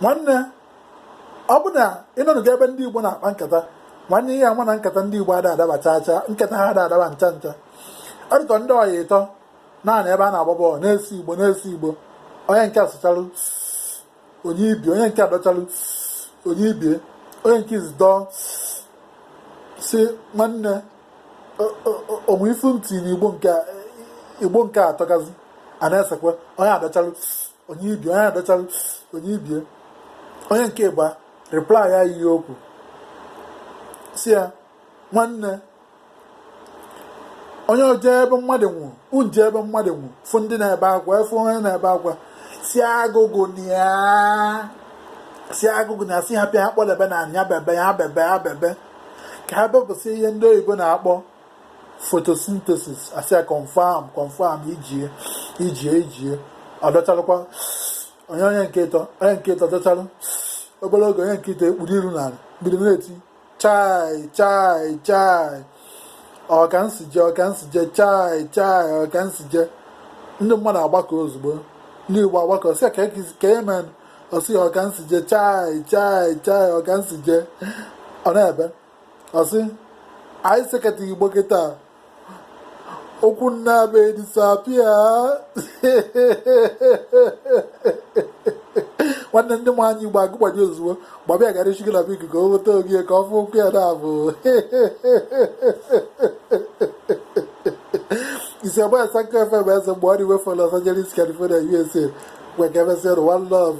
nwanne ọ bụ na ịnọdụ ebe ndị Igbo na-akpa nkata nwanne ị ya-ama na nkata ndị Igbo ada adaba chaa chaa nkata ha ada adaba ncha ncha ọ dị ka ndị ọyị ịtọ naanị ebe a na-agba bọọlụ na-ese igbo na-ese igbo onye nke a sechalụ o nye ibe ya onye nke a dọchalụ o nye ibe ya onye nke izi dọọ sị nwanne o nwe ife e tinye na igbo nke igbo nke a atọgazi a na-esekwe onye adọchalụ o nye ibe ya onye adọchalụ o nye ibe ya onye nke ịbụa reply ya ihe okwu sị ya nwanne onye oje ebe mmadụ nwụ unje ebe mmadụ nwụ fụ ndị na-ebe akwa ị fụ onye na-ebe akwa si agụgụ na ya si agụgụ na ya si ha pịa ha kpọdebe na anya bebe ya bebe ya bebe ka ha bepụsị ihe ndị oyibo na-akpọ photosynthesis a sị ya confirm confirm ijie ijie ijie ọ dọchalụkwa o nye onye nke ịtọ onye nke ịtọ dọchalụ obere oge onye nke ịtọ ekpuru iru n'ala bido na-eti chai chai chai ọ ka m si je ọ ka m si je chai chai ọ ka m si je ndị mmadụ agbakọ ozugbo ndị igbo agbakọ sị ka e mee ọ sị ya ọ ka m si je chai chai chai ọ ka m si je ọ na-ebe ọ sị anyị sekata igbo kịta ụkwụ m naabọ edisappear nwanne ndị nwe anyị igbo agụgbadi ozugbo gbaba ya gara echigala bụ ikuku o weta oge ka ọ fụ ụkwụ ya naabọ isi agba asanka fm eze mgbe all the way from Los Angeles California USA mgbe ka emesịa one love